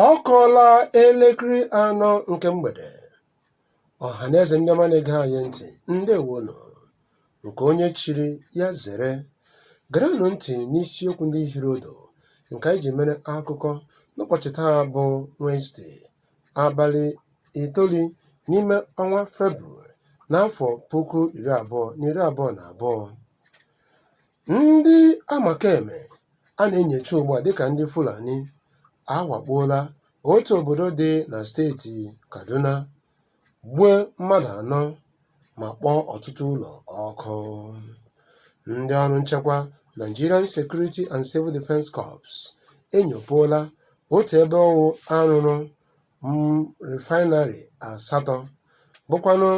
ọ kụọla elekere anọ nke mgbede ọha na eze ndị ọma na-ege anyị ntị ndewonụ nke onye chiri ya zere gerenụ ntị n'isiokwu ndị hiri ụdụ nke anyị ji mere akụkọ n'ụbọchị taa bụ Wenesde abalị itoolu n'ime ọnwa Febrụwarị n'afọ puku iri abụọ na iri abụọ na abụọ Ndị Amakeme a na-enyocha ugbu a dịka ndị Fulani awakpoola otu obodo dị na steeti Kaduna, gbuo mmadụ anọ ma kpọọ ọtụtụ ụlọ ọkụ. Ndị ọrụ nchekwa Nigerian Security and Civil Defence Corps enyopụola otu ebe ọ wụ a rụrụ refinery asatọ bụkwanụ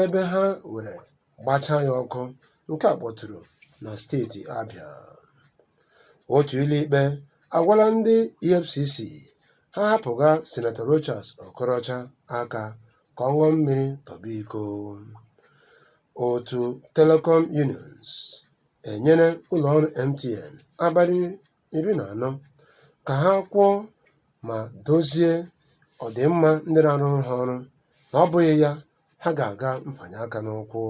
ebe ha were gbachaa ya ọkụ nke a kpọtụrụ na steeti Abịa otu ụlọikpe agwala ndị EFCC ha hapụga Senator Rochas Okorocha aka ka ọ ṅụọ mmiri tọgbọ iko otu Telecom Unions enyere ụlọọrụ MTN abalị iri na anọ ka ha kwụọ ma dozie ọdịmma ndị na-arụrụ ha ọrụ na ọ bụghị ya ha ga-aga mfanye aka n'ụkwụ.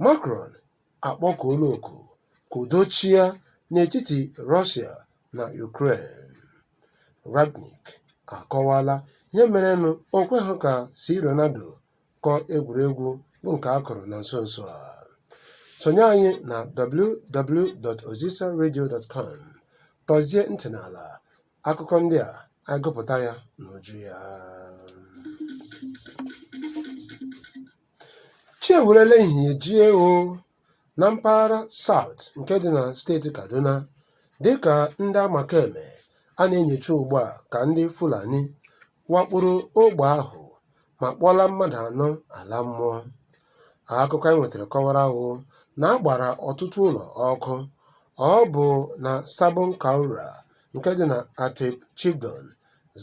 Macron akpọkuola oku ka udo chịa n'etiti Russia na Ukraine. Rangnick akọwaala ihe merenụ o kweghị ka C Ronaldo kụọ egwuregwu bụ nke a kụrụ na nso nso a. Sonye anyị na www.ozisaradio.com tọzie ntị n'ala akụkọ ndị a anyị gụpụta ya n'uju ya chi ewerela ehihie jie o na mpaghara South nke dị na steeti Kaduna dịka ndị amakeme a na-enyocha ugbu a ka ndị Fulani wakporo ogbe ahụ ma kpọlaa mmadụ anọ ala mmụọ akụkọ anyị nwetara kọwara ahụ na a gbara ọtụtụ ụlọ ọkụ ọ bụ na Sabon Kaura nke dị na Atyap Chiefdom,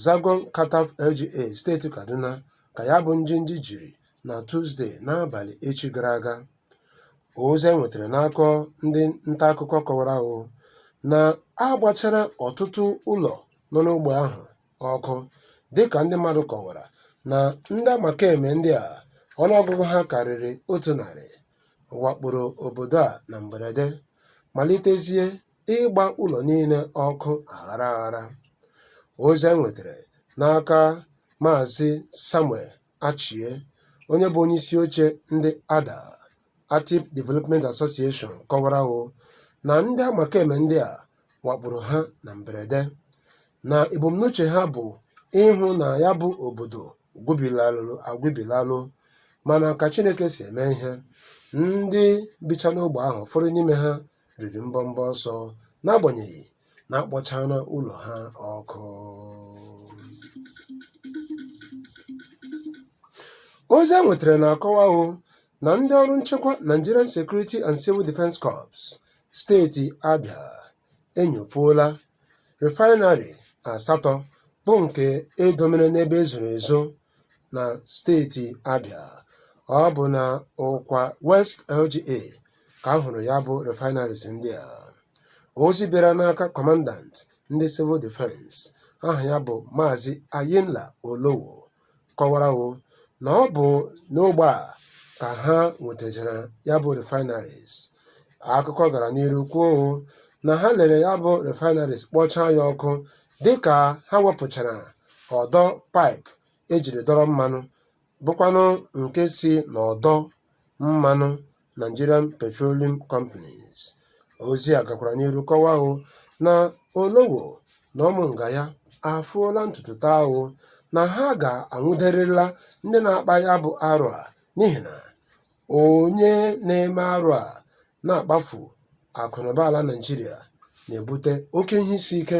Zangon Kataf LGA steeti Kaduna ka ya bụ njinji jiri na Tuzde n'abalị echi gara aga. Ozi e nwetara n'aka ndị nta akụkọ kọwara ahụ na a gbachara ọtụtụ ụlọ nọ n'ogbe ahụ ọkụ dịka ndị mmadụ kọwara na ndị amakeme ndị a ọnụọgụgụ ha karịrị otu narị wakporo obodo a na mberede malitezie ịgba ụlọ niile ọkụ aghara aghara. Ozi enwetara n'aka Maazị Samuel Achie, onye bụ onyeisi oche ndị ADA, Atyap Development Association, kọwara o na ndị amakeme ndị a wakporo ha na mberede na ebumnuche ha bụ ịhụ na ya bụ obodo gwubilalụ agwubilalụ mana ka Chineke si eme ihe, ndị bicha n'ogbe ahụ ụfọdụ n'ime ha riri mbọmbọ ọsọ n'agbanyeghị na akpọchara ụlọ ha ọkụ ozi enwetara na-akọwa o na ndị ọrụ nchekwa Nigerian Security and Civil Defence Corps steeti Abia enyopuola refinery asatọ bụ nke edomere n'ebe ezoro ezo na steeti Abia ọ bụ na Ukwa West LGA ka a hụrụ ya bụ refineries ndị a ozi bịara n'aka kọmandant ndị civil defense aha ya bụ maazị ayinla olowo kọwara o na ọ bụ n'ogbe a ka ha nwetachara ya bụ refineries akụkọ gara n'iru kwuo o na ha lere ya bụ refineries kpọchaa ya ọkụ dịka ha wepụchara ọdọ paịpụ ejiri dọrọ mmanụ bụkwanụ nke si n'ọdọ mmanụ Nigerian Petroleum Companies. Ozi a gakwara n'iru kọwaa o na Olowo na ụmụ nga ya afụọla ntutu taa o na ha ga-anwụderịrịla ndị na-akpa ya bụ arụ a n'ihi na onye na-eme arụ a na-akpafu akụnụba ala Naịjirịa na-ebute oke ihe isi ike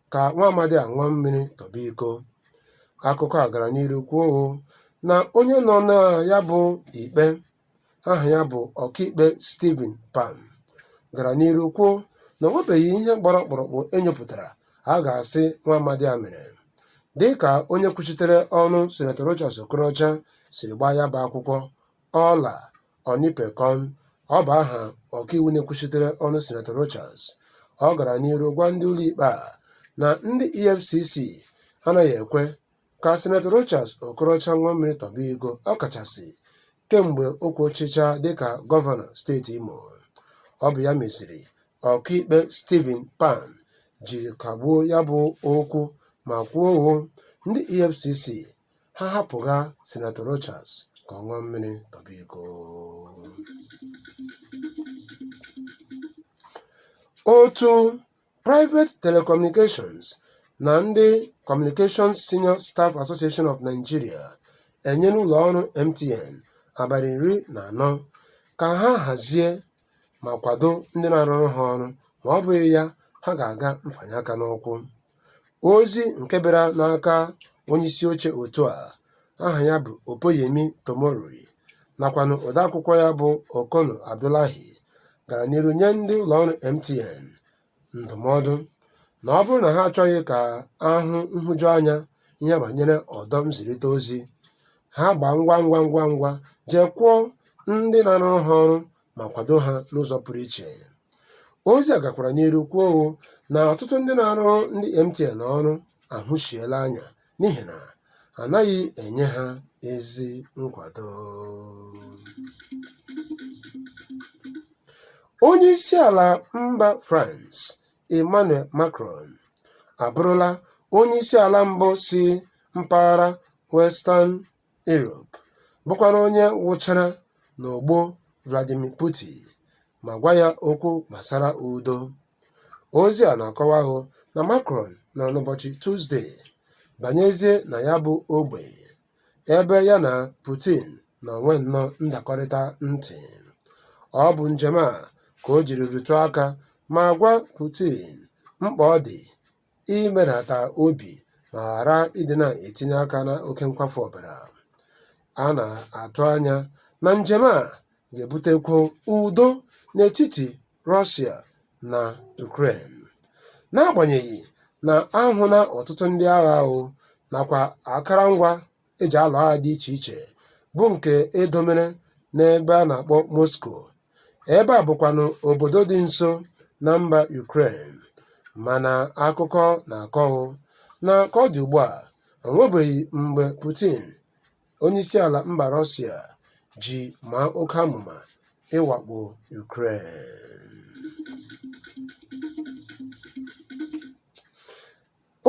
ka nwa amadi a ṅụọ mmiri tọba iko akụkọ a gara n'iru kwuo o na onye nọ na ya bụ ikpe aha ya bụ ọkaikpe Stephen Pam gara n'iru kwuo na o nwebeghị ihe gbara ọkpụrụkpụ enyopụtara a ga-asị nwa amadi a mere dị ka onye kwuchitere ọnụ Senator Rochas Okorocha siri gbaa ya bụ akwụkwọ Ola Olanipekun, ọ bụ aha ọkaiwu na-ekwuchitere ọnụ Sinetọ Rochas. Ọ gara n'iru gwa ndị ụlọikpe a na ndị EFCC anaghị ekwe ka Sinetọ Rochas Okorocha ṅụọ mmiri tọba iko ọkachasị kemgbe o kwuchicha dịka gọvanọ steeti Imo. Ọ bụ ya meziri ọkaikpe Stephen Pam ji kagbuo ya bụ okwu ma kwuo hoo ndị EFCC ha hapụ ha Senator Rochas ka ọ ṅụọ mmiri tọba iko otu Private Telecommunications na ndị Communications Senior Staff Association of Nigeria enyela ụlọ ọrụ MTN abalị iri na anọ ka ha hazie ma kwado ndị na-arụrụ ha ọrụ ma ọ bụghị ya ha ga-aga mfanye aka n'ụkwụ ozi nke bịara n'aka onyeisi oche otu a aha ya bụ Opeyemi Tomori nakwanụ odeakwụkwọ ya bụ Okonu Abdullahi gara n'iru nye ndị ụlọọrụ MTN ndụmọdụ na ọ bụrụ na ha achọghị ka a hụ nhụjuanya ihe banyere ọdọ nzirịta ozi, ha gbaa ngwa ngwa ngwa ngwa jee kwụọ ndị na-arụrụ ha ọrụ ma kwado ha n'ụzọ pụrụ iche. Ozi a gakwara n'iru kwuo hụ na ọtụtụ ndị na-arụrụ ndị MTN ọrụ ahụsiela anya n'ihi na a naghị enye ha ezi nkwado. Onye isi ala mba France Emmanuel Macron abụrụla onye isi ala mbụ si mpaghara Western Europe bụkwara onye wụchara n'ogbo Vladimir Putin ma gwa ya okwu gbasara udo. Ozi a na-akọwa hụ na Macron nọrọ n'ụbọchị Tuzde banyezie na ya bụ ogbe ebe ya na Putin nọ nwee nnọọ ndakọrịta ntị. Ọ bụ njem a ka o jiri rụtụ aka ma gwa Putin mkpa ọ dị imerata obi ma ghara ịdị na-etinye aka na oke nkwafu ọbara. A na-atụ anya na njem a ga-ebutekwu udo n'etiti Russia na Ukraine. N'agbanyeghị na a hụla ọtụtụ ndị agha ahụ nakwa akarangwa e ji alụ agha dị iche iche bụ nke e domere n'ebe a na-akpọ Moscow, ebe a bụkwanụ obodo dị nso na mba Ukraine, mana akụkọ na-akọhụ na ka ọ dị ugbua, o nwebeghị mgbe Putin Onyeisiala mba Rọsịa ji maa oke amụma ịwakpo Ukraine.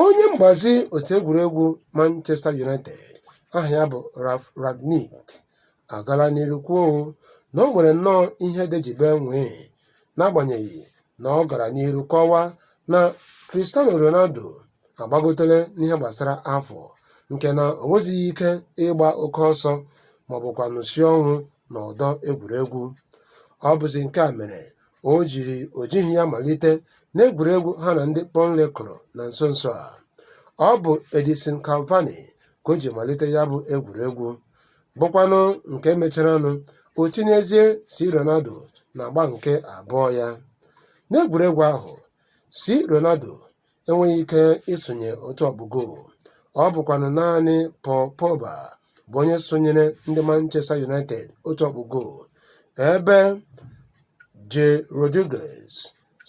Onye mgbazi otu egwuregwu Manchester United aha ya bụ Ralf Rangnick agala n'iru kwuo na o nwere nnọọ ihe dejibe nwee n'agbanyeghị na ọ gara n'iru kọwaa na Cristiano Ronaldo agbagotela n'ihe gbasara afọ nke na o nwezighị ike ịgba oke ọsọ maọbụkwanụ isi ọnwụ n'ọdọ egwuregwu. Ọ bụzi nke a mere o jiri o jighị ya malite n'egwuregwu ha na ndị Burnley kụrụ na nso nso a. Ọ bụ Edinson Cavani ka o ji malite ya bụ egwuregwu bụkwanụ nke e mecharanụ o tinyezie C. Ronaldo n'agba nke abụọ ya n'egwuregwu ahụ C. Ronaldo enweghị ike isonye otu ọkpụ goolu ọ bụkwanụ naanị Paul Pogba bụ onye sonyere ndị Manchester United otu ọkpụ goolu ebe Jay Rodriguez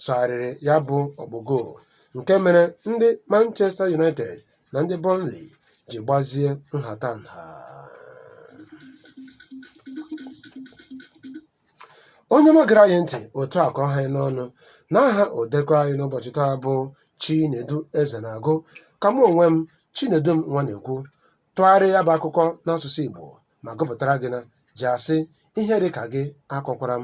sọgharịrị ya bụ ọkpụ goolu nke mere ndị Manchester United na ndị Burnley ji gbazie nhatanha onye ọma gere anyị ntị otu a ka ọ ha anyị n'ọnụ n'aha odekọ anyị n'ụbọchị taa bụ Chinedu Ezenagụ ka mụ onwe m Chinedum Nwanekwu tụgharịa ya bụ akụkọ n'asụsụ Igbo ma gụpụtara gị na ji asị ihe dị ka gị akọkwara m